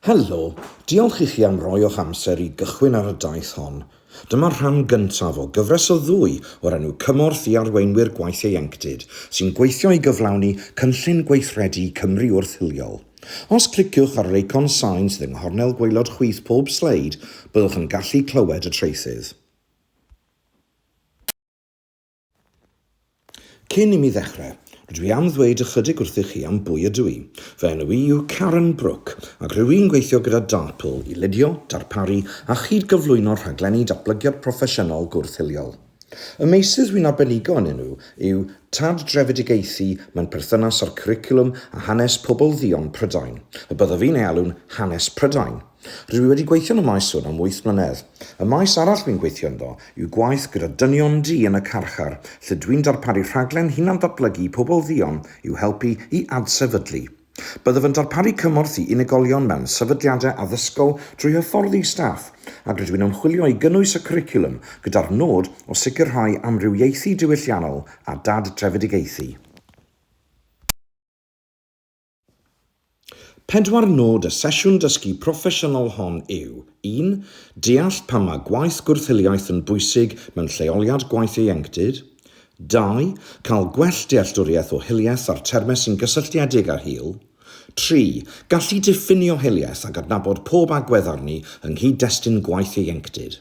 Helo, diolch i chi am roi o'ch amser i gychwyn ar y daith hon. Dyma'r rhan gyntaf o gyfres o ddwy o'r enw Cymorth i Arweinwyr Gwaith Ieuenctid sy'n gweithio i gyflawni Cynllun Gweithredu Cymru Wrth-hiliol. Os cliciwch ar yr eicon sain sydd yng nghornel gwaelod chwith pob sleid, byddwch yn gallu clywed y traethydd. Cyn i mi ddechrau, rydw i am ddweud ychydig wrthych chi am bwy ydw i. Fy enw i yw Karen Brook, ac rwyf i'n gweithio gyda Dartpool i ledio, darparu a chyd-gyflwyno rhaglenni datblygiad proffesiynol gwrth-hiliol. Y meysydd wy'n arbenigo ynyn nhw yw tardrefedigaethu mewn perthynas â'r cwricwlwm a hanes pobl dduon Prydain, y byddaf i'n ei alw'n 'hanes Prydain'. Rwy wedi gweithio yn y maes hwn am wyth mlynedd. Y maes arall rwy'n gweithio ynddo yw gwaith gyda dynion du yn y carchar, lle dw i'n darparu rhaglen hunan-ddatblygu i pobl dduon i'w helpu i adsefydlu. Byddaf yn darparu cymorth i unigolion mewn sefydliadau addysgol drwy hyfforddi staff, ac rydw i'n ymchwilio i gynnwys y cwricwlwm gyda'r nod o sicrhau amrywiaethu diwylliannol a dad-drefedigaethu. Pedwar nod y sesiwn dysgu proffesiynol hon yw, un, deall pam mae gwaith gwrth-hiliaeth yn bwysig mewn lleoliad gwaith ieuenctid, dau, cael gwell dealltwriaeth o hiliaeth a'r termau sy'n gysylltiedig â hil, tri, gallu diffinio hiliaeth ac adnabod pob agwedd arni yng nghyd-destun gwaith ieuenctid.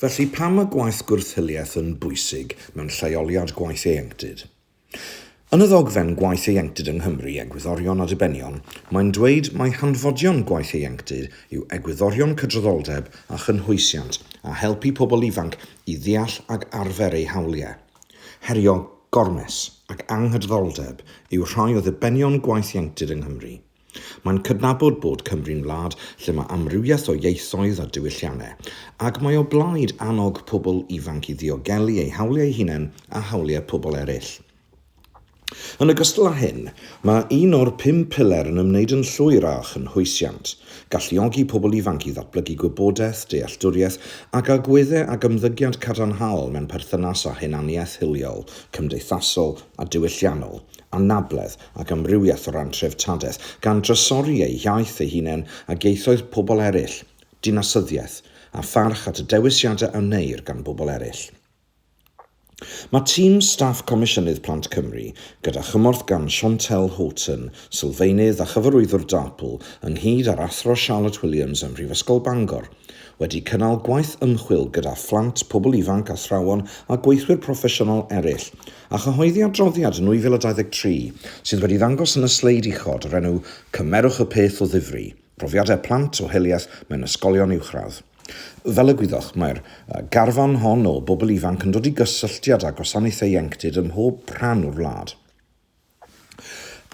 Felly, pam mae gwaith gwrth-hiliaeth yn bwysig mewn lleoliad gwaith ieuenctid? Yn y ddogfen Gwaith Ieuenctid yng Nghymru, Egwyddorion a Dibenion, mae'n dweud mai hanfodion gwaith ieuenctid yw egwyddorion cydraddoldeb a chynhwysiant a helpu pobl ifanc i ddeall ac arfer eu hawliau. Herio, gormes ac anghydraddoldeb yw rhai o ddibenion gwaith ieuenctid yng Nghymru. Mae'n cydnabod bod Cymru'n wlad lle mae amrywiaeth o ieithoedd a diwylliannau, ac mae o blaid annog pobl ifanc i ddiogelu eu hawliau eu hunain a hawliau pobl eraill. Yn ogystal â hyn, mae un o'r pum piler yn ymwneud yn llwyr â chynhwysiant, galluogi pobl ifanc i ddatblygu gwybodaeth, dealltwriaeth ac agweddau ac ymddygiad cadarnhaol mewn perthynas â hunaniaeth hiliol, cymdeithasol a diwylliannol, anabledd ac amrywiaeth o ran treftadaeth, gan drysori eu hiaith eu hunain ag ieithoedd pobl eraill, dinasyddiaeth, a pharch at y dewisiadau a wneir gan bobl eraill. Mae tîm staff Comisiynydd Plant Cymru, gyda chymorth gan Chantelle Houghton, sylfaenydd a chyfarwyddwr DARPL, ynghyd â'r Athro Charlotte Williams ym Mhrifysgol Bangor, wedi cynnal gwaith ymchwil gyda phlant, pobl ifanc, athrawon a gweithwyr proffesiynol eraill, A chyhoeddi adroddiad 2023, sydd wedi ddangos yn y sleid uchod, o'r enw 'Cymerwch y Peth o Ddifri, Profiadau Plant o Hiliaeth mewn Ysgolion Uwchradd'. Fel y gwyddoch, mae'r garfan hon o bobl ifanc yn dod i gysylltiad â gwasanaethau ieuenctid ym mhob rhan o'r wlad.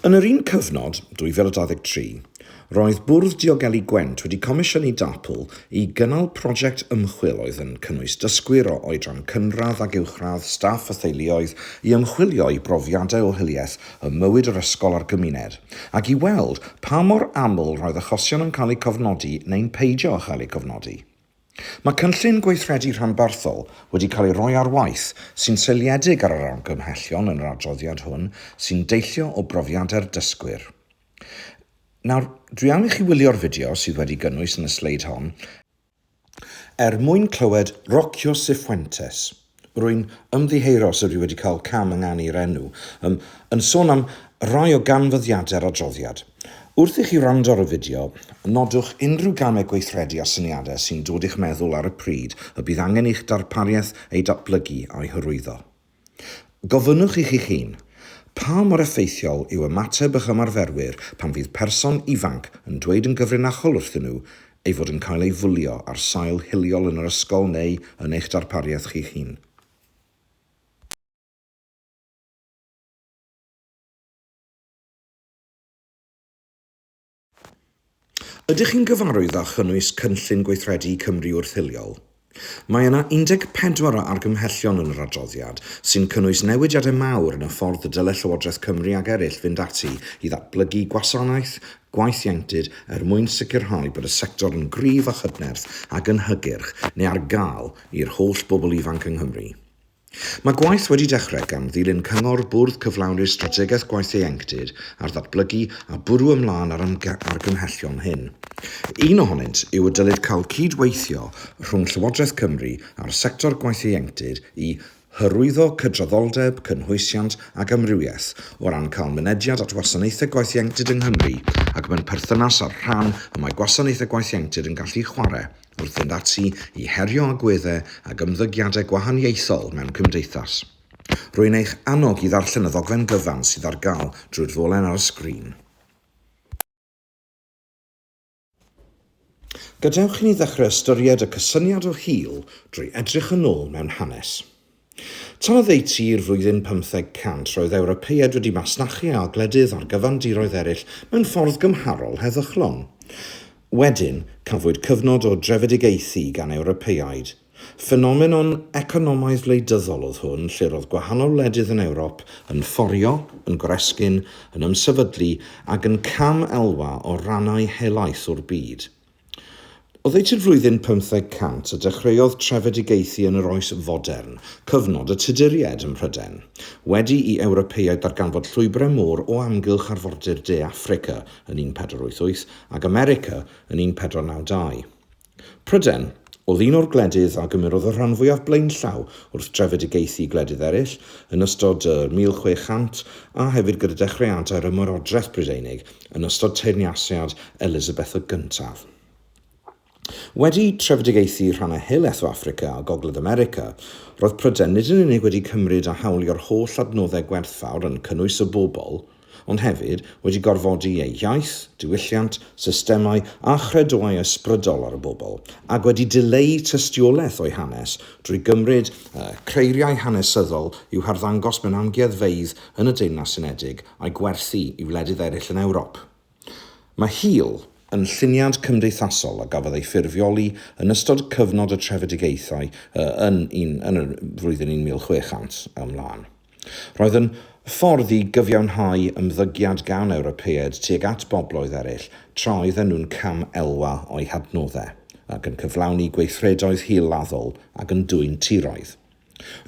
Yn yr un cyfnod, 2023, roedd Bwrdd Diogelu Gwent wedi comisiynu DAPL i gynnal prosiect ymchwil oedd yn cynnwys dysgwyr o oedran cynradd ac uwchradd, staff a theuluoedd i ymchwilio i brofiadau o hiliaeth ym mywyd yr ysgol a'r gymuned ac i weld pa mor aml roedd achosion yn cael eu cofnodi neu'n peidio â chael eu cofnodi. Mae cynllun gweithredu rhanbarthol wedi cael ei roi ar waith sy'n seiliedig ar yr argymhellion yn yr adroddiad hwn sy'n deillio o brofiadau'r dysgwyr. Nawr, dwi am i chi wylio'r fideo sydd wedi gynnwys yn y sleid hon er mwyn clywed Rocio Cifuentes. Rwy'n ymddiheuro os ydw i wedi cael cam ynganu'r enw, yym, yn sôn am rai o ganfyddiadau'r adroddiad. Wrth i chi wrando ar y fideo, nodwch unrhyw gamau gweithredu a syniadau sy'n dod i'ch meddwl ar y pryd y bydd angen i'ch darpariaeth eu datblygu a'u hyrwyddo. Gofynnwch i chi'ch hun, Pa mor effeithiol yw ymateb eich ymarferwyr pan fydd person ifanc yn dweud yn gyfrinachol wrthyn nhw, ei fod yn cael ei fwlio ar sail hiliol yn yr ysgol neu yn eich darpariaeth chi'ch hun. Ydych chi'n gyfarwydd â chynnwys Cynllun Gweithredu Cymru Wrth-hiliol? Mae yna 14 o argymhellion yn yr adroddiad, sy'n cynnwys newidiadau mawr yn y ffordd y dylai Llywodraeth Cymru ac eraill fynd ati i ddatblygu gwasanaeth gwaith ieuenctid er mwyn sicrhau bod y sector yn gryf a chydnerth ac yn hygyrch neu ar gael i'r holl bobl ifanc yng Nghymru. Mae gwaith wedi dechrau gan ddilyn cyngor Bwrdd Cyflawni'r Strategaeth Gwaith Ieuenctid ar Ddatblygu a bwrw ymlaen â'r argymhellion hyn. Un ohonynt yw y dylid cael cyd-weithio rhwng Llywodraeth Cymru a'r sector gwaith ieuenctid i hyrwyddo cydraddoldeb, cynhwysiant ac amrywiaeth o ran cael mynediad at wasanaethau gwaith ieuenctid yng Nghymru ac mewn perthynas â'r rhan y mae gwasanaethau gwaith ieuenctid yn gallu chwarae wrth fynd ati i herio agweddau ac ymddygiadau gwahaniaethol mewn cymdeithas. Rwy'n eich annog i ddarllen y ddogfen gyfan sydd ar gael drwy'r ddolen ar y sgrin. Gadewch i ni ddechrau ystyried y cysyniad o hil drwy edrych yn ôl mewn hanes. Tan oddeutu'r flwyddyn 500, roedd Ewropeaid wedi masnachu â gwledydd ar gyfan diroedd eraill mewn ffordd gymharol heddychlon. Wedyn, cafwyd cyfnod o drefedigaethu gan Ewropeaid. Ffenomenon economaidd wleidyddol oedd hwn lle roedd gwahanol wledydd yn Ewrop yn fforio, yn goresgyn, yn ymsefydlu ac yn cam elwa o rannau helaeth o'r byd. Oddeutu'r i'r flwyddyn pymtheg cant a dechreuodd trefedigaethu yn yr Oes Fodern, cyfnod y Tuduriaid ym Mhrydain. Wedi i Ewropeaid ddarganfod llwybrau môr o amgylch arfordir De Affrica yn 1488 ac America yn 1492. Prydain oedd un o'r gwledydd a gymerodd y rhan fwyaf blaenllaw wrth drefedigaethu i gwledydd eraill yn ystod y 1600 a hefyd gyda dechreuadau'r Ymerodraeth Brydeinig yn ystod teyrnasiad Elisabeth y Gyntaf. Wedi trefedigaethu rhannau helaeth o Affrica a Gogledd America, roedd Prydain nid yn unig wedi cymryd a hawlio'r holl adnoddau gwerthfawr yn cynnwys y bobl, ond hefyd wedi gorfodi ei iaith, diwylliant, systemau a chredoau ysbrydol ar y bobl, ac wedi dileu tystiolaeth o'i hanes drwy gymryd creiriau hanesyddol i'w harddangos mewn amgueddfeydd yn y Deyrnas Unedig a'i gwerthu i wledydd eraill yn Ewrop. Mae Heal yn lluniad cymdeithasol a gafodd ei ffurfioli yn ystod cyfnod y trefedigaethau y yn un yn yr flwyddyn 1600 ymlaen. Roedd yn ffordd i gyfiawnhau ymddygiad gan Ewropeaid tuag at bobloedd eraill tra oedden nhw'n cam elwa o'u hadnoddau, ac yn cyflawni gweithredoedd hil-laddol ac yn dwyn tiroedd.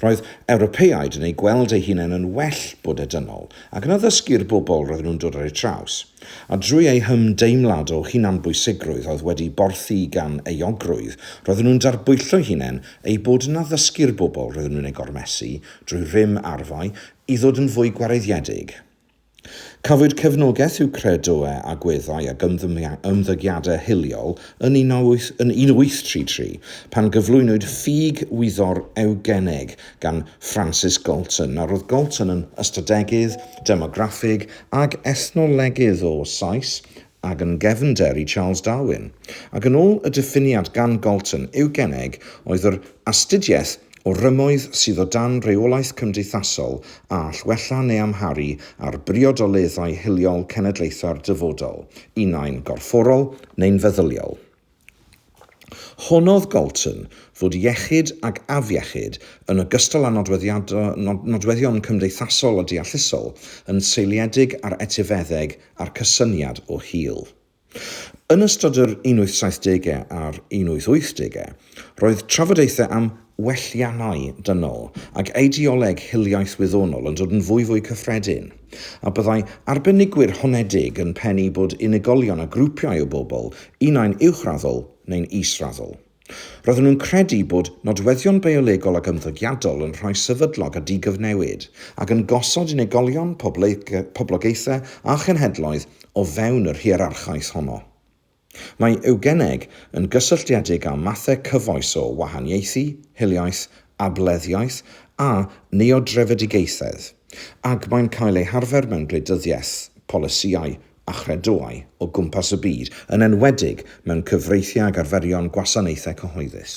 Roedd Ewropeaid yn eu gweld eu hunain yn well bod y dynol, ac yn addysgu'r bobl roedden nhw'n dod ar eu traws. A drwy eu hymdeimlad o hunanbwysigrwydd oedd wedi borthi gan euogrwydd, roedden nhw'n darbwyllo'u hunain eu bod yn addysgu'r bobl roedden nhw'n eu gormesu, drwy rym arfau, i ddod yn fwy gwareiddiedig. Cafwyd cefnogaeth i'w credoau, agweddau ac ymddygiadau hiliol yn 1833 pan gyflwynwyd ffug wyddor ewgeneg gan Francis Galton. Nawr, roedd Galton yn ystadegydd, demograffig ac ethnolegydd o Sais ac yn gefnder i Charles Darwin, ac yn ôl y diffiniad gan Galton, eugeneg oedd yr astudiaeth o rymoedd sydd o dan reolaeth cymdeithasol a all wella neu amharu ar briodoleddau hiliol cenedlaethau'r dyfodol, unai'n gorfforol neu'n feddyliol. Honnodd Galton fod iechyd ac afiechyd, yn ogystal â nodweddion cymdeithasol a deallusol, yn seiliedig ar etifeddeg a'r cysyniad o hil. Yn ystod yr 1870au a'r 1880au, roedd trafodaethau am welliannau dynol ac eideoleg hiliaeth wyddonol yn dod yn fwyfwy cyffredin, a byddai arbenigwyr honedig yn pennu bod unigolion a grwpiau o bobl, unai'n uwchraddol neu'n israddol. Roedden nhw'n credu bod nodweddion biolegol ac ymddygiadol yn rhai sefydlog a digyfnewid, ac yn gosod unigolion, poblogaethau a chenhedloedd o fewn yr hierarchaeth honno. Mae eugeneg yn gysylltiedig â mathau cyfoes o wahaniaethu, hiliaeth, ableddiaeth a neodrefedigaethedd, ac mae'n cael ei harfer mewn gwleidyddiaeth, polisïau a chredoau o gwmpas y byd, yn enwedig mewn cyfreithiau ag arferion gwasanaethau cyhoeddus.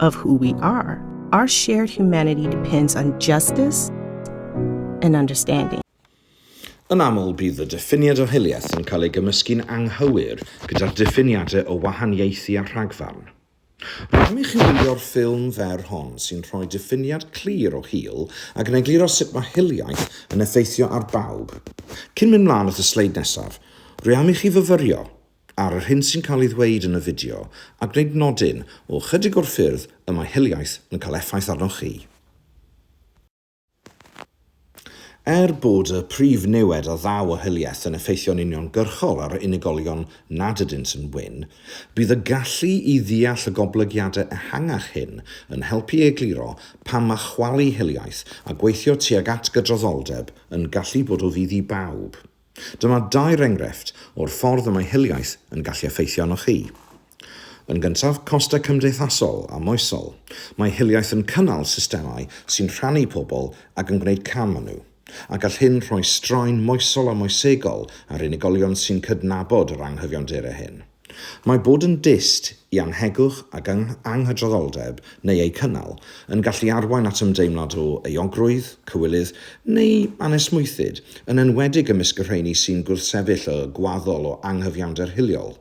of who we are. Our shared humanity depends on justice and understanding. Yn aml bydd y diffiniad o hiliaeth yn cael ei gymysgu'n anghywir gyda'r diffiniadau o wahaniaethu a rhagfarn. Rydym i chi wylio'r ffilm fer hon sy'n rhoi diffiniad clir o hil ac yn egluro sut mae hiliaeth yn effeithio ar bawb. Cyn mynd mlaen at y sleid nesaf, rwy am i chi fyfyrio ar yr hyn sy'n cael ei ddweud yn y fideo a gwneud nodyn o ychydig o'r ffyrdd y mae hiliaeth yn cael effaith arnoch chi. Er bod y prif niwed a ddaw o hiliaeth yn effeithio'n uniongyrchol ar unigolion nad ydynt yn wyn, bydd y gallu i ddeall y goblygiadau ehangach hyn yn helpu i egluro pam mae chwalu hiliaeth a gweithio tuag at gydraddoldeb yn gallu bod o fudd i bawb. Dyma dair enghraifft o'r ffordd y mae hiliaeth yn gallu effeithio arnoch chi. Yn gyntaf, costau cymdeithasol a moesol. Mae hiliaeth yn cynnal systemau sy'n rhannu pobl ac yn gwneud cam â nhw, a gall hyn rhoi straen moesol a moesegol ar unigolion sy'n cydnabod yr anghyfiawnder hyn. Mae bod yn dyst i annhegwch ac anghydraddoldeb, neu eu cynnal, yn gallu arwain at ymdeimlad o euogrwydd, cywilydd, neu anesmwythyd, yn enwedig ymysg y rheiny sy'n gwrthsefyll y gwaddol o anghyfiawnder hiliol.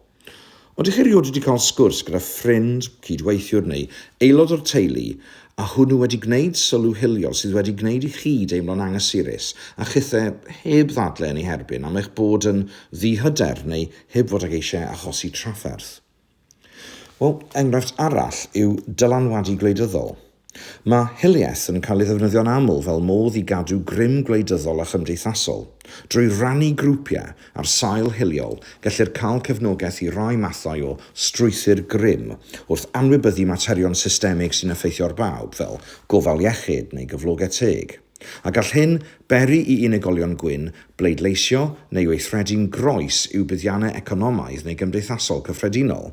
Ydych chi erioed wedi cael sgwrs gyda ffrind, cydweithiwr neu aelod o'r teulu a hwnnw wedi gwneud sylw hiliol sydd wedi gwneud i chi deimlo'n anghysurus a chithau heb ddadlau yn ei herbyn am eich bod yn ddi-hyder neu heb fod ag eisiau achosi trafferth. Wel, enghraifft arall yw dylanwadu gwleidyddol. Mae hiliaeth yn cael ei ddefnyddio'n aml fel modd i gadw grym gwleidyddol a chymdeithasol. Drwy rannu grwpiau ar sail hiliol, gellir cael cefnogaeth i rai mathau o strwythur grym wrth anwybyddu materion systemig sy'n effeithio ar bawb, fel gofal iechyd neu gyflogau teg. A gall hyn beri i unigolion gwyn bleidleisio neu weithredu'n groes i'w buddiannau economaidd neu gymdeithasol cyffredinol?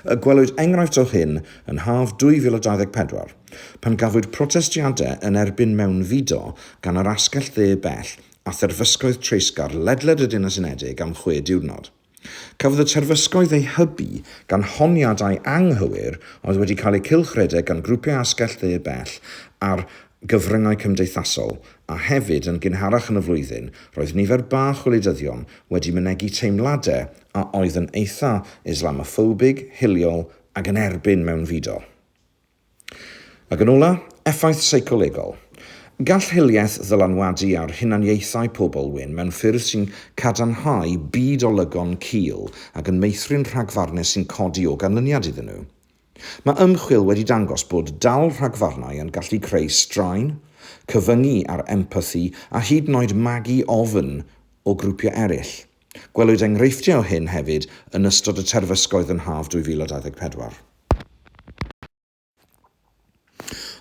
Y gwelwyd enghraifft o hyn yn haf 2024, pan gafwyd protestiadau yn erbyn mewnfudo gan yr asgell dde bell a therfysgoedd treisgar ledled y Deyrnas Unedig am chwe diwrnod. Cafodd y terfysgoedd eu hybu gan honiadau anghywir oedd wedi cael eu cylchredeg gan grwpiau asgell dde bell ar gyfryngau cymdeithasol, a hefyd, yn gynharach yn y flwyddyn, roedd nifer bach o wleidyddion wedi mynegi teimladau a oedd yn eitha' Islamoffobig, hiliol, ac yn erbyn mewnfudo. Ac yn ola, effaith seicolegol. Gall hiliaeth ddylanwadu ar hunaniaethau pobl wyn mewn ffyrdd sy'n cadarnhau byd olygon cul ac yn meithrin rhagfarnau sy'n codi o ganlyniad iddyn nhw. Mae ymchwil wedi dangos bod dal rhagfarnau yn gallu creu straen, cyfyngu ar empathi a hyd yn oed magu ofn o grwpiau eraill. Gwelwyd enghreifftiau o hyn hefyd yn ystod y terfysgoedd yn haf 2024.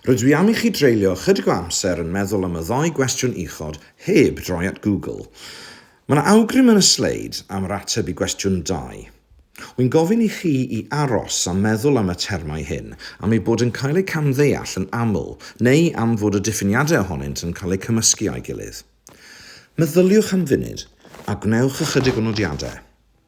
Rydw i am i chi dreulio ychydig o amser yn meddwl am y ddou gwestiwn uchod heb droi at Google. Mae yna awgrym yn y sleid am yr ateb i gwestiwn dau. Wy'n gofyn i chi i aros a meddwl am y termau hyn am eu bod yn cael eu camddeall yn aml neu am fod y diffiniadau ohonynt yn cael eu cymysgu â'i gilydd. Meddyliwch am funud a gwnewch ychydig o nodiadau.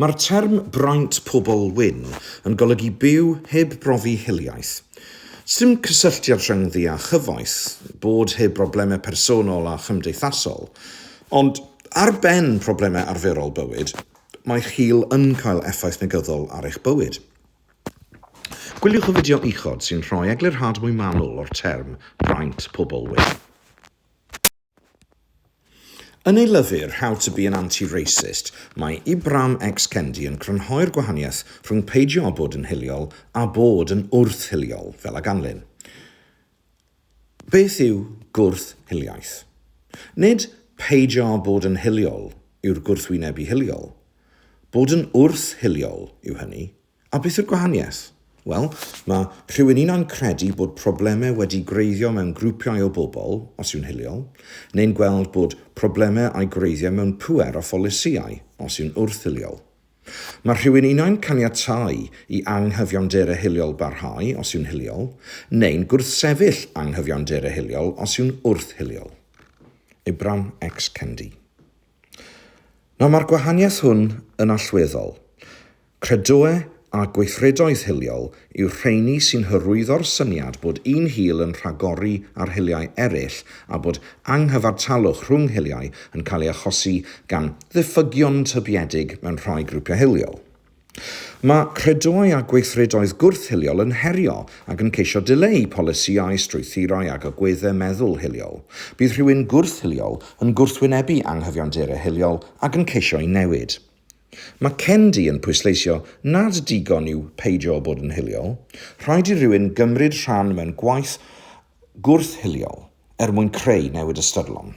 Mae'r term Braint Pobl Wyn yn golygu byw heb brofi hiliaeth. Sdim cysylltiad rhyngddi â chyfoeth, bod heb broblemau personol a chymdeithasol. Ond ar ben problemau arferol bywyd, mae'ch hil yn cael effaith negyddol ar eich bywyd. Gwyliwch y fideo uchod sy'n rhoi eglurhad mwy manwl o'r term Braint Pobl Wyn. Yn ei lyfr How to be an Anti-Racist, mae Ibram X. Kendi yn crynhoi'r gwahaniaeth rhwng peidio â bod yn hiliol a bod yn wrth-hiliol, fel a ganlyn, Beth yw gwrth-hiliaeth? Nid peidio â bod yn hiliol yw'r gwrthwyneb i hiliol. Bod yn wrth-hiliol yw hynny, A beth yw'r gwahaniaeth? Wel, mae rhywun unai'n credu bod problemau wedi gwreiddio mewn grwpiau o bobl, os yw'n hiliol, neu'n gweld bod problemau a'u gwreiddiau mewn pŵer a pholisïau, os yw'n wrth-hiliol. Mae rhywun unai'n caniatáu i anghyfiawnderau hiliol barhau, os yw'n hiliol, neu'n gwrthsefyll anghyfiawnderau hiliol, os yw'n wrth-hiliol. Ibram X. Kendi. Nawr mae'r gwahaniaeth hwn yn allweddol. Credoe a gweithredoedd hiliol yw'r rheini sy'n hyrwyddo'r syniad bod un hil yn rhagori ar hiliau eraill a bod anghyfartalwch rhwng hiliau yn cael ei achosi gan ddiffygion tybiedig mewn rhai grwpiau hiliol. Mae credoau a gweithredoedd gwrth-hiliol yn herio ac yn ceisio dileu polisïau, strwythurau ac agweddau meddwl hiliol. Bydd rhywun gwrth-hiliol yn gwrthwynebu anghyfiawnderau hiliol ac yn ceisio'u newid. Mae Kendi yn pwysleisio nad digon yw peidio â bod yn hiliol, rhaid i rywun gymryd rhan mewn gwaith gwrth-hiliol er mwyn creu newid ystyrlon.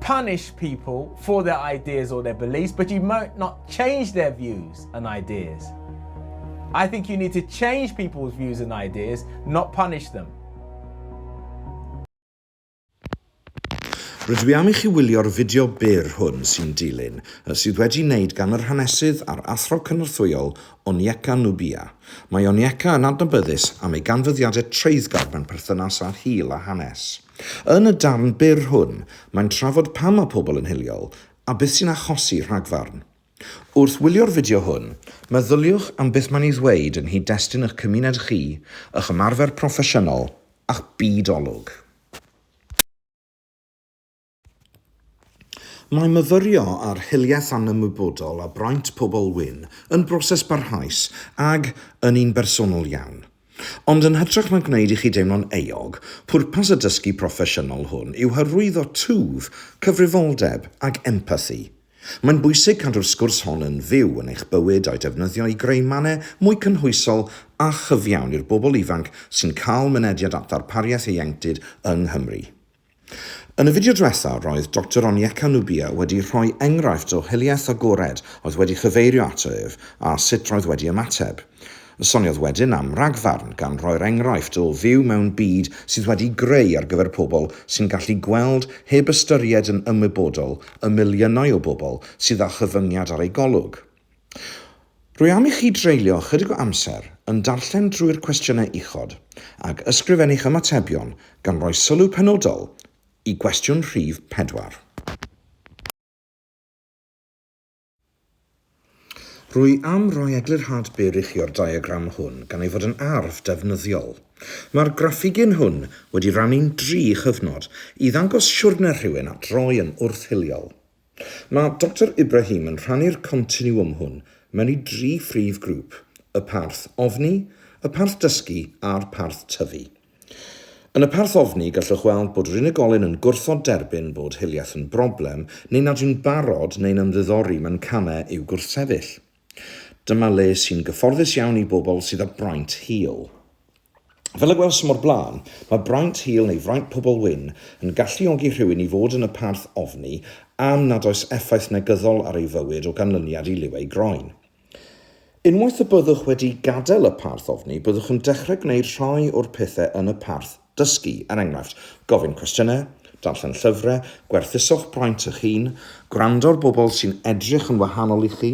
punish people for their ideas or their beliefs, but you might not change their views and ideas. I think you need to change people's views and ideas, not punish them. Rydw i am i chi wylio'r fideo byr hwn sy'n dilyn, sydd wedi wneud gan yr hanesydd a'r athro cynorthwyol Onyeka Nubia. Mae Onyeka yn adnabyddus am ei ganfyddiadau treiddgar mewn perthynas â hil a hanes. Yn y darn byr hwn, mae'n trafod pam mae pobl yn hiliol a beth sy'n achosi rhagfarn. Wrth wylio'r fideo hwn, meddyliwch am beth mae'n ei ddweud yng nghyd-destun eich cymuned chi, eich ymarfer proffesiynol, a'ch byd olwg. Mae myfyrio ar hiliaeth anymwybodol a braint pobl wyn yn broses barhaus ag yn un bersonol iawn. Ond yn hytrach na gwneud i chi deimlo'n euog, pwrpas y dysgu proffesiynol hwn yw hyrwyddo twf, cyfrifoldeb ac empathi. Mae'n bwysig cadw'r sgwrs hon yn fyw yn eich bywyd a'i defnyddio i greu mannau mwy cynhwysol a chyfiawn i'r bobl ifanc sy'n cael mynediad at ddarpariaeth ieuenctid yng Nghymru. Yn y fideo dwetha, roedd Doctor Onyeka Nubia wedi rhoi enghraifft o hiliaeth agored oedd wedi chyfeirio ato ef a sut roedd wedi ymateb. Soniodd wedyn am ragfarn, gan roi'r enghraifft o fyw mewn byd sydd wedi'i greu ar gyfer pobl sy'n gallu gweld heb ystyried yn ymwybodol y miliynau o bobl sydd â chyfyngiad ar eu golwg. Rwy am i chi dreulio ychydig o amser yn darllen drwy'r cwestiynau uchod ac ysgrifennu'ch ymatebion gan roi sylw penodol i gwestiwn rhif pedwar. Rwy am roi eglurhad byr i chi o'r diagram hwn gan ei fod yn arf defnyddiol. Mae'r graffigyn hwn wedi rannu'n dri chyfnod i ddangos siwrne rhywun at roi yn wrth-hiliol. Mae Doctor Ibrahim yn rhannu'r continiwwm hwn mewn i dri phrif grŵp, y parth ofni, y parth dysgu a'r parth tyfu. Yn y parth ofni gallwch weld bod yr unigolyn yn gwrthod derbyn bod hiliaeth yn broblem neu nad yw'n barod neu'n ymddiddori mewn camau i'w gwrthsefyll. Dyma le sy'n gyfforddus iawn i bobl sydd â braint hil. Fel y gwelsom o'r blaen, mae braint hil neu fraint pobl wyn yn galluogi rhywun i fod yn y parth ofni am nad oes effaith negyddol ar ei fywyd o ganlyniad i liw ei groen. Unwaith y byddwch wedi gadael y parth ofni, byddwch yn dechrau gwneud rhai o'r pethau yn y parth Dysgu, er enghraifft, gofyn cwestiynau, darllen llyfrau, gwerthuswch braint eich hun, gwrando ar bobl sy'n edrych yn wahanol i chi,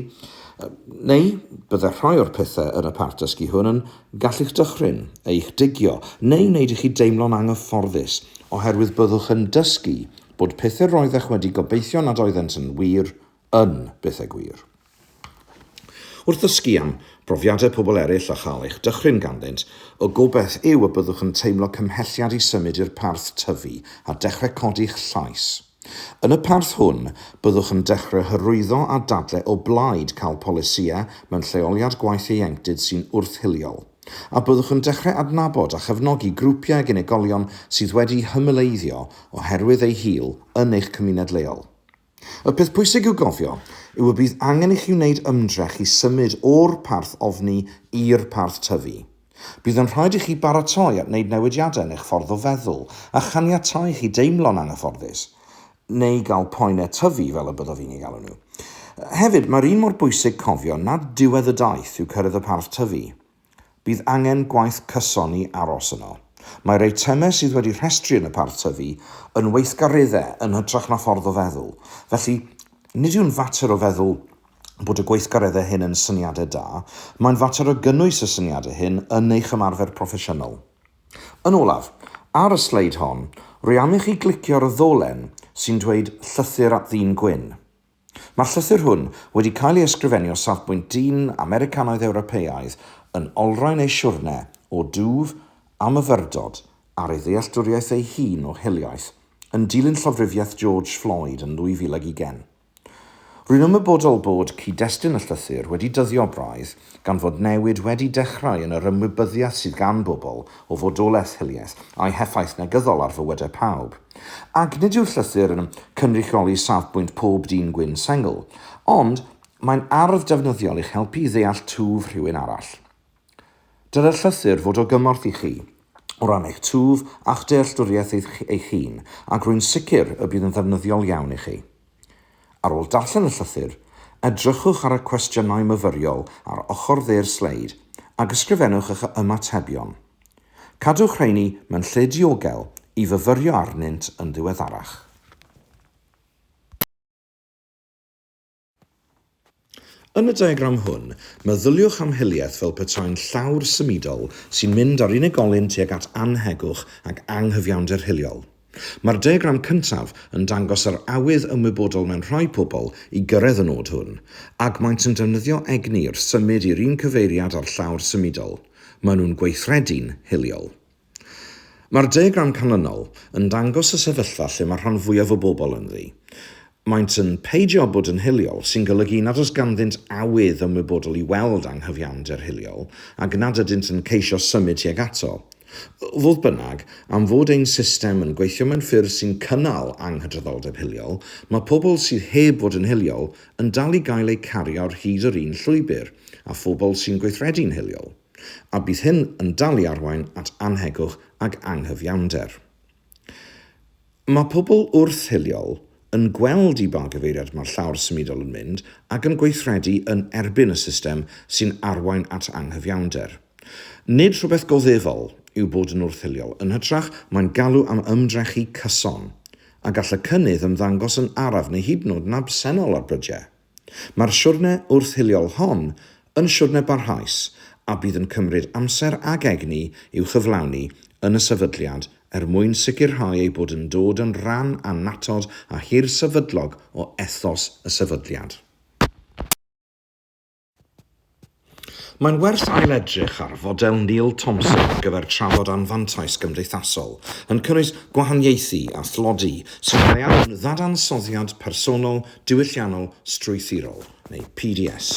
neu bydde rhai o'r pethau yn y parth dysgu hwn yn gallu'ch dychryn, eich digio, neu wneud i chi deimlo'n anghyfforddus, oherwydd byddwch yn dysgu bod pethau roeddech wedi gobeithio nad oeddent yn wir yn bethau gwir. Wrth ddysgu am brofiadau pobl eraill a chael eich dychryn ganddynt, y gobaith yw y byddwch yn teimlo cymhelliad i symud i'r parth tyfu a dechrau codi'ch llais. Yn y parth hwn, byddwch yn dechrau hyrwyddo a dadlau o blaid cael polisïau mewn lleoliad gwaith ieuenctid sy'n wrth-hiliol, a byddwch yn dechrau adnabod a chefnogi grwpiau ag unigolion sydd wedi hymyleiddio oherwydd eu hil yn eich cymuned leol. Y peth pwysig i'w gofio yw y bydd angen i chi wneud ymdrech i symud o'r parth ofni i'r parth tyfu. Bydd yn rhaid i chi baratoi at wneud newidiadau yn eich ffordd o feddwl a chaniatáu i chi deimlo'n anghyfforddus, neu gael poenau tyfu fel y byddaf i'n eu galw nhw. Hefyd, mae'r un mor bwysig cofio nad diwedd y daith yw cyrraedd y parth tyfu. Bydd angen gwaith cyson i aros yno. Mae'r eitemau sydd wedi rhestru yn y parth tyfu yn weithgareddau yn hytrach na ffordd o feddwl, felly nid yw'n fater o feddwl bod y gweithgareddau hyn yn syniadau da, mae'n fater o gynnwys y syniadau hyn yn eich ymarfer proffesiynol. Yn olaf, ar y sleid hon, rwy am i chi glicio ar y ddolen sy'n dweud 'Llythyr at Ddyn Gwyn'. Mae'r llythyr hwn wedi cael ei ysgrifennu o safbwynt dyn Americanaidd-Ewropeaidd yn olrhain ei siwrne o dwf a myfyrdod ar ei ddealltwriaeth ei hun o hiliaeth, yn dilyn llofrufiaeth George Floyd yn 2020. Rwy'n ymwybodol bod cyd-destun y llythyr wedi dyddio braidd, Gan fod newid wedi dechrau yn yr ymwybyddiaeth sydd gan bobl o fodolaeth hiliaeth a'i heffaith negyddol ar fywydau pawb, ac nid yw'r llythyr yn cynrychioli safbwynt pob dyn gwyn sengl, ond mae'n arf ddefnyddiol i'ch helpu i ddeall twf rhywun arall. Dylai'r llythyr fod o gymorth i chi o ran eich twf a'ch dealltwriaeth eich hun, ac rwy'n sicr y bydd yn ddefnyddiol iawn i chi. Ar ôl darllen y llythyr, edrychwch ar y cwestiynau myfyriol ar ochr dde'r sleid ac ysgrifennwch eich ymatebion. Cadwch rheiny mewn lle diogel i fyfyrio arnynt yn ddiweddarach. Yn y diagram hwn, meddyliwch am hiliaeth fel petai'n llawr symudol sy'n mynd â'r unigolyn tuag at annhegwch ac anghyfiawnder hiliol. Mae'r diagram cyntaf yn dangos yr awydd ymwybodol mewn rhai pobl i gyrraedd y nod hwn, ac maent yn defnyddio egni wrth symud i'r un cyfeiriad â'r llawr symudol. Maen nhw'n gweithredu'n hiliol. Mae'r diagram canlynol yn dangos y sefyllfa lle mae'r rhan fwyaf o bobl ynddi. Maent yn peidio bod yn hiliol, sy'n golygu nad oes ganddynt awydd ymwybodol i weld anghyfiawnder hiliol ac nad ydynt yn ceisio symud tuag ato. Fodd bynnag, am fod ein system yn gweithio mewn ffyrdd sy'n cynnal anghydraddoldeb hiliol, mae pobl sydd heb fod yn hiliol yn dal i gael eu cario ar hyd yr un llwybr â phobl sy'n gweithredu'n hiliol. a bydd hyn yn dal i arwain at annhegwch ac anghyfiawnder. Mae pobl wrth-hiliol yn gweld i ba gyfeiriad mae'r llawr symudol yn mynd ac yn gweithredu yn erbyn y system sy'n arwain at anghyfiawnder. Nid rhywbeth goddefol yw bod yn wrth-hiliol, yn hytrach, mae'n galw am ymdrechu cyson, a gall y cynnydd ymddangos yn araf neu hyd yn oed yn absennol ar brydiau. Mae'r siwrne wrth-hiliol hon yn siwrne barhaus a bydd yn cymryd amser ac egni i'w chyflawni yn y sefydliad er mwyn sicrhau eu bod yn dod yn rhan annatod a hirsefydlog o ethos y sefydliad. Mae'n werth ailedrych ar fodel Neil Thompson ar gyfer trafod anfantais gymdeithasol, yn cynnwys gwahaniaethu a thlodi sy'n cael ei alw'n ddadansoddiad personol diwylliannol strwythurol, neu PDS.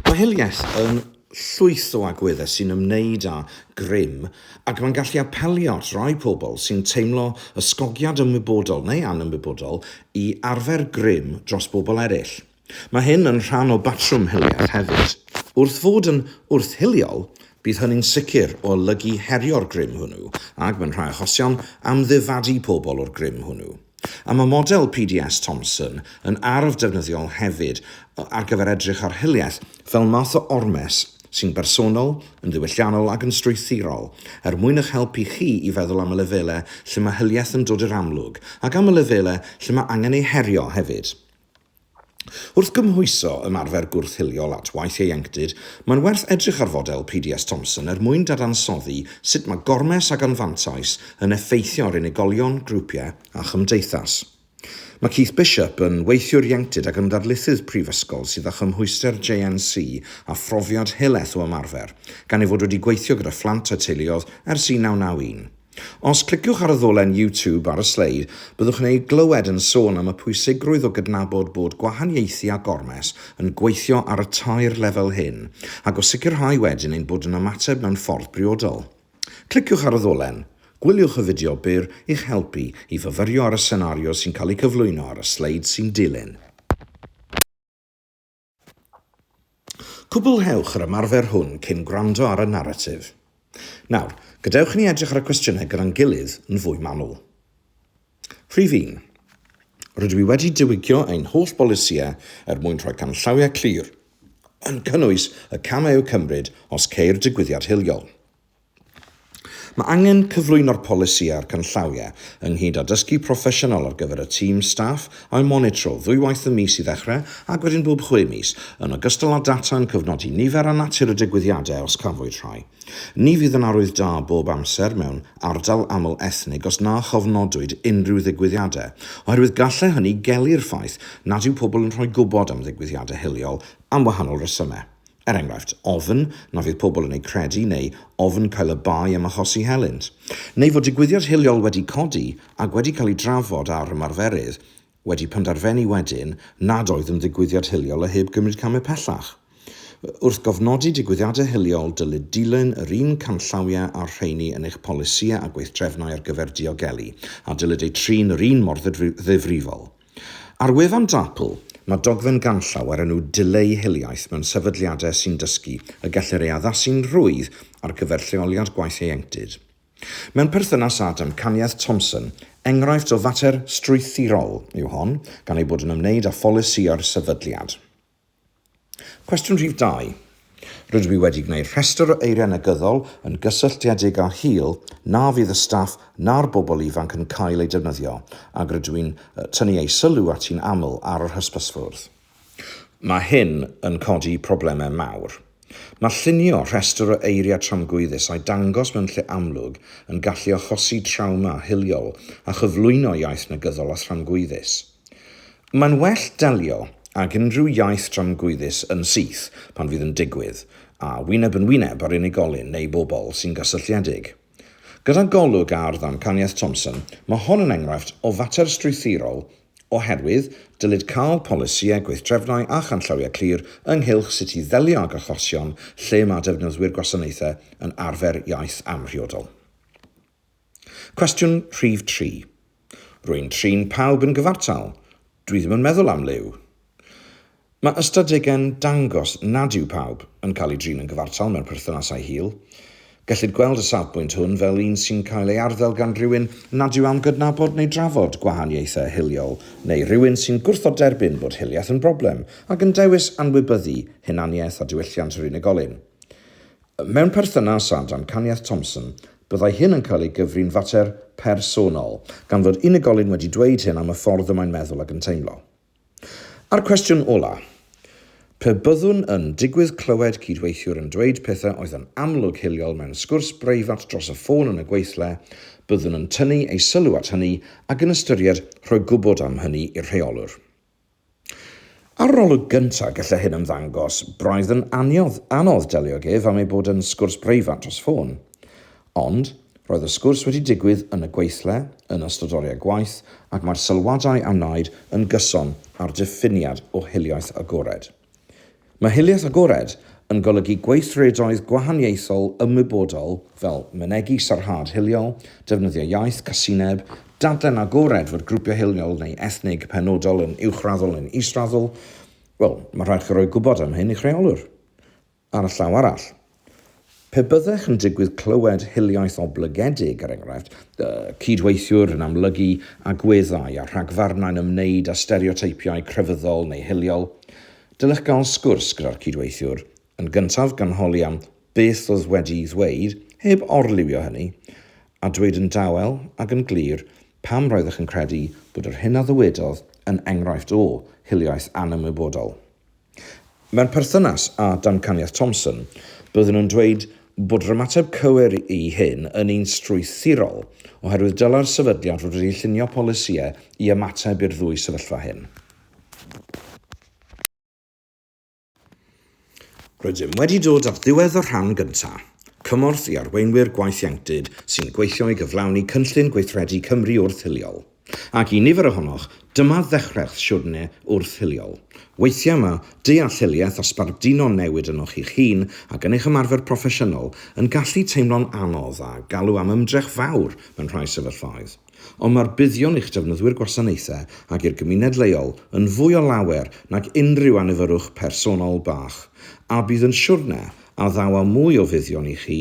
Mae hiliaeth yn llwyth o agweddau sy'n ymwneud â grym ac mae'n gallu apelio at rai pobl sy'n teimlo ysgogiad ymwybodol neu anymwybodol i arfer grym dros bobl eraill. Mae hyn yn rhan o batrwm hiliaeth hefyd. Wrth fod yn wrth-hiliol, bydd hynny'n sicr o olygu herio'r grym hwnnw, ac, mewn rhai achosion, amddifadu pobl o'r grym hwnnw. A mae model PDS Thompson yn arf defnyddiol hefyd ar gyfer edrych ar hiliaeth fel math o ormes sy'n bersonol, yn ddiwylliannol ac yn strwythurol, er mwyn eich helpu chi i feddwl am y lefelau lle mae hiliaeth yn dod i'r amlwg, ac am y lefelau lle mae angen ei herio hefyd. Wrth gymhwyso ymarfer gwrth-hiliol at waith ieuenctid, mae'n werth edrych ar fodel PDS Thompson er mwyn dadansoddi sut mae gormes ac anfantais yn effeithio ar unigolion, grwpiau a chymdeithas. Mae Keith Bishop yn weithiwr ieuenctid ac yn ddarlithydd prifysgol sydd â chymhwyster JNC a phrofiad helaeth o ymarfer, gan ei fod wedi gweithio gyda phlant a teuluoedd ers 1991. Os cliciwch ar y ddolen YouTube ar y sleid, byddwch yn ei glywed yn sôn am y pwysigrwydd o gydnabod bod gwahaniaethu a gormes yn gweithio ar y tair lefel hyn, ac o sicrhau wedyn ein bod yn ymateb mewn ffordd briodol. Cliciwch ar y ddolen, gwyliwch y fideo byr i'ch helpu i fyfyrio ar y senario sy'n cael ei cyflwyno ar y sleid sy'n dilyn. Cwblhewch yr ymarfer hwn cyn gwrando ar y naratif. Nawr, gadewch i ni edrych ar y cwestiynau gyda'n gilydd yn fwy manwl. Rhif un. Rydw i wedi diwygio ein holl bolisïau er mwyn rhoi canllawiau clir, yn cynnwys y camau i'w cymryd os ceir digwyddiad hiliol. Mae angen cyflwyno'r polisi a'r canllawiau, ynghyd â dysgu proffesiynol ar gyfer y tîm staff, a'u monitro ddwywaith y mis i ddechrau ac wedyn bob chwe mis, yn ogystal â data yn cyfnodi nifer a natur y digwyddiadau os cafwyd rhai. Ni fydd yn arwydd da bob amser mewn ardal aml ethnig os na chofnodwyd unrhyw ddigwyddiadau, oherwydd gallai hynny gelu'r ffaith nad yw pobl yn rhoi gwybod am ddigwyddiadau hiliol am wahanol resymau. Er enghraifft, ofn na fydd pobl yn eu credu neu ofn cael y bai am achosi helynt. Neu fod digwyddiad hiliol wedi codi ac wedi cael ei drafod â'r ymarferydd, wedi penderfenu wedyn nad oedd yn ddigwyddiad hiliol a heb gymryd camau pellach. Wrth gofnodi digwyddiadau hiliol, dylid dilyn yr un canllawiau â'r rheini yn eich polisïau a gweithdrefnau ar gyfer diogelu, a dylid eu trin yr un mor ddifrifol. Ar wefan DAPL, mae dogfen ganllaw o'r enw 'Dileu Hiliaeth mewn Sefydliadau sy'n Dysgu' y gellir ei addasu'n rhwydd ar gyfer lleoliad gwaith ieuenctid. Mewn perthynas â damcaniaeth Thompson, enghraifft o fater strwythurol yw hon, gan ei bod yn ymwneud â pholisïau'r sefydliad. Cwestiwn rhif dau. Rydw i wedi gwneud rhestr o eiriau negyddol yn gysylltiedig â hil na fydd y staff na'r bobl ifanc yn cael eu defnyddio, ac rydw i'n tynnu eu sylw ati'n aml ar yr hysbysfwrdd. Mae hyn yn codi problemau mawr. Mae llunio rhestr o eiriau tramgwyddus a'i dangos mewn lle amlwg yn gallu achosi trawma hiliol a chyflwyno iaith negyddol a thramgwyddus. Mae'n well delio ag unrhyw iaith dramgwyddus yn syth pan fydd yn digwydd, a wyneb yn wyneb â'r unigolyn neu bobl sy'n gysylltiedig. Gyda golwg ar ddamcaniaeth Thompson, mae hon yn enghraifft o fater strwythurol oherwydd dylid cael polisïau, gweithdrefnau a chanllawiau clir ynghylch sut i ddelio ag achosion lle mae defnyddwyr gwasanaethau yn arfer iaith amhriodol. Cwestiwn rhif tri. Rwy'n trin pawb yn gyfartal, dwi ddim yn meddwl am liw. Mae ystadegau'n dangos nad yw pawb yn cael ei drin yn gyfartal mewn perthynasau hil. Gellid gweld y safbwynt hwn fel un sy'n cael ei arddel gan rywun nad yw am gydnabod neu drafod gwahaniaethau hiliol neu rywun sy'n gwrthod derbyn bod hiliaeth yn broblem ac yn dewis anwybyddu hunaniaeth a diwylliant yr unigolyn. Mewn perthynas â damcaniaeth Thompson, byddai hyn yn cael ei gyfri'n fater personol, gan fod unigolyn wedi dweud hyn am y ffordd y mae'n meddwl ac yn teimlo. A'r cwestiwn ola', pe byddwn yn digwydd clywed cydweithiwr yn dweud pethau oedd yn amlwg hiliol mewn sgwrs breifat dros y ffôn yn y gweithle, byddwn yn tynnu ei sylw at hynny ac yn ystyried rhoi gwybod am hynny i'r rheolwr. Ar yr olwg gyntaf, gallai hyn ymddangos braidd yn aniodd, anodd delio ag ef am ei bod yn sgwrs breifat dros ffôn. Ond, roedd y sgwrs wedi digwydd yn y gweithle, yn ystod oriau gwaith, ac mae'r sylwadau a wnaed yn gyson â'r diffiniad o hiliaeth agored. Mae hiliaeth agored yn golygu gweithredoedd gwahaniaethol ymwybodol fel mynegi sarhad hiliol, defnyddio iaith casineb, dadlen agored fod grwpiau hiliol neu ethnig penodol yn uwchraddol neu'n israddol, wel, mae'n rhaid i chi roi gwybod am hyn i'ch rheolwr. Ar y llaw arall, pe byddech yn digwydd clywed hiliaeth oblygedig, er enghraifft, y cyd-weithiwr yn amlygu agweddau a rhagfarnau'n ymwneud â stereoteipiau crefyddol neu hiliol, dylech gael sgwrs gyda'r cyd-weithiwr, yn gyntaf gan holi am beth oedd wedi'i ddweud, heb orliwio hynny, a dweud yn dawel ac yn glir pam roeddech yn credu bod yr hyn a ddywedodd yn enghraifft o hiliaeth anymwybodol. Mewn perthynas â damcaniaeth Thompson, byddwn yn dweud bod yr ymateb cywir i hyn yn un strwythurol, oherwydd dylai'r sefydliad fod wedi llunio polisïau i ymateb i'r ddwy sefyllfa hyn. Rydym wedi dod at ddiwedd y rhan gyntaf. Cymorth i arweinwyr gwaith ieuenctid sy'n gweithio i gyflawni Cynllun Gweithredu Cymru Wrth-hiliol. Ac i nifer ohonoch, dyma ddechrau'ch siwrne wrth-hiliol. Weithiau mae dealluoliaeth a sbarduno newid ynoch chi'ch hun ac yn eich ymarfer proffesiynol yn gallu teimlo'n anodd a galw am ymdrech fawr mewn rhai sefyllfaoedd. Ond mae'r buddion i'ch defnyddwyr gwasanaethau ac i'r gymuned leol yn fwy o lawer nag unrhyw anifyrwch personol bach, a bydd yn siwrne a ddaw â mwy o fuddion i chi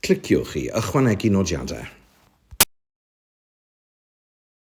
Cliciwch i ychwanegu nodiadau.